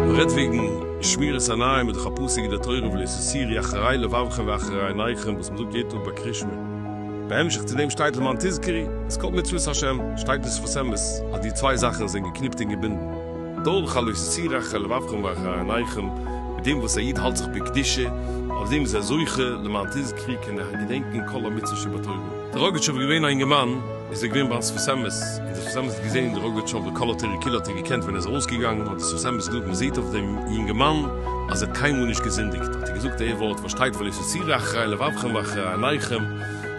מ'רעדט וועגן שמירת עיניים מיט די חפציגע דער תורה ולי' ס'סירי אחרי לבבכם ואחרי עיניכם וואס מ'זאגט יעדן טאג ביי קרישמע, בהמשך צו דעם שטייט למען תזכרי, אז כל מצוות השם שטייט בשפת אמת אז די צוויי זאכן זענען געקניפט און געבינדן. דאָרט חלוץ צו רחל לבבכם ואחר עיניכם, מיט דעם וואָס אַ איד האַלט זיך בקדושה, אויף דעם איז ער זוכה, למען תזכרי כן איך געדענקען כל המצוות שבתורה. דער ראָגאַטשאָוו איז געווען אַ אינגערמאַן, איז ער געווען בײַם שפת אמת, און דער שפת אמת האָט געזען דער ראָגאַטשאָווער כל התורה כולה האָט ער געקענט, ווען ער איז אַרויסגעגאַנגען האָט דער שפת אמת געזאָגט, מע זעט אויף דעם יונגערמאַן, אַז ער האָט קיין מאָל נישט געזינדיקט, האָט ער געזאָגט אַיער וואָרט, וואָס שטייט חלוץ צו רחל לבבכם ואחר עיניכם,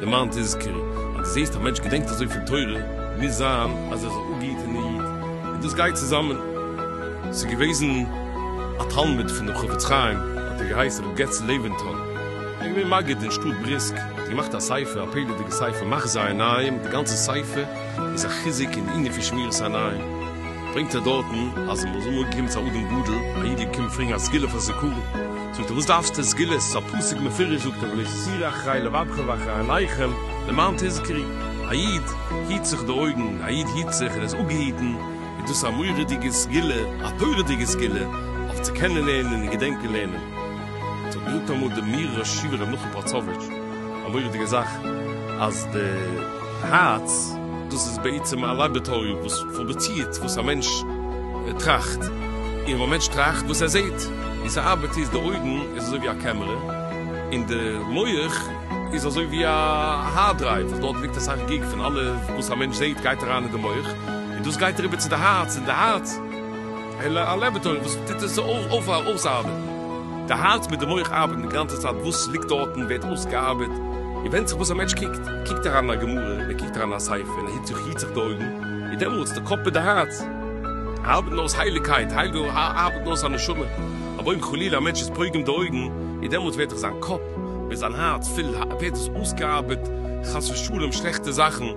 למען תזכרי, אַז דו זעסט אַ מענטש געדענקט אַזוי פון תורה, מוז זײַן, אַז ער איז אָ גוטער איד. און דאס גייט צוזאמען. ס'איז געוועזן א תלמיד פונעם חפץ חיים, האט ער געהייסן ר' געץ לעווענטאל, ער איז געווען מגיד אין שטאט בריסק, ער האט געמאכט א ספר, א פעלערדיגע ספר מחזור עיניים, די גאנצע ספר איז א חיזוק אין די ענין פון שמירת עיניים, ברענגט ער דארטן אז מ'האט אמאל געקומען צו א אדם גדול, א איד איז געקומען פרעגן א סגולה פאר זיכרון. זאגט ער וואס דארפסטו סגולות ס'איז א פסוק מפורש זאגט ער ולא תסיר אחרי לבבך ואחרי עיניכם למען תזכרי א איד היט זיך די אויגן א איד היט זיך ער איז אפגעהיטן איז דאס א מורא'דיגע סגולה א תורה'דיגע סגולה אויף צו קענען לערנען און געדענקען לערנען עס האט געזאגט אמאל די מהר א שי' ר' נתן פאצאוויטש א מורא'דיגע זאך אז די הארץ, דאס איז בעצם א לאבערטארי וואס פראדוצירט וואס א מענטש טראכט, און ווען א מענטש טראכט וואס ער זעט, ווי ס'ארבעט איז, די אויגן איז אזוי ווי א קעמערע, און די מח איז אזוי ווי א הארד דרייוו וואס דארט ליגט אסאך גיג פון אלע וואס א מענטש זעט גייט אריין אין די מח, און דאס גייט אריבער צו די הארץ, און די הארץ. אלא א לעבעטארי וואס טוט עס אויסארבעטן. די הארץ מיט די מח ארבעטן די גאנצע צייט, וואס ליגט דארטן ווערט אויסגעארבעט, און ווענדט זיך וואס א מענטש קוקט, קוקט ער אריין אין א גמרא, ער קוקט אריין אין א ספר, און ער היט זיך היט זיך די אויגן, איז דעמאלטס די קאפ מיט די הארץ ארבעטן אויס הייליגקייט, ארבעטן אויס א נשמה, אבער אויב חלילה א מענטש איז פוגם די אויגן, איז דעמאלטס ווערט דאך זיין קאפ מיט זיין הארץ פול, ווערט עס אויסגעארבעט חס ושלום שלעכטע זאכן.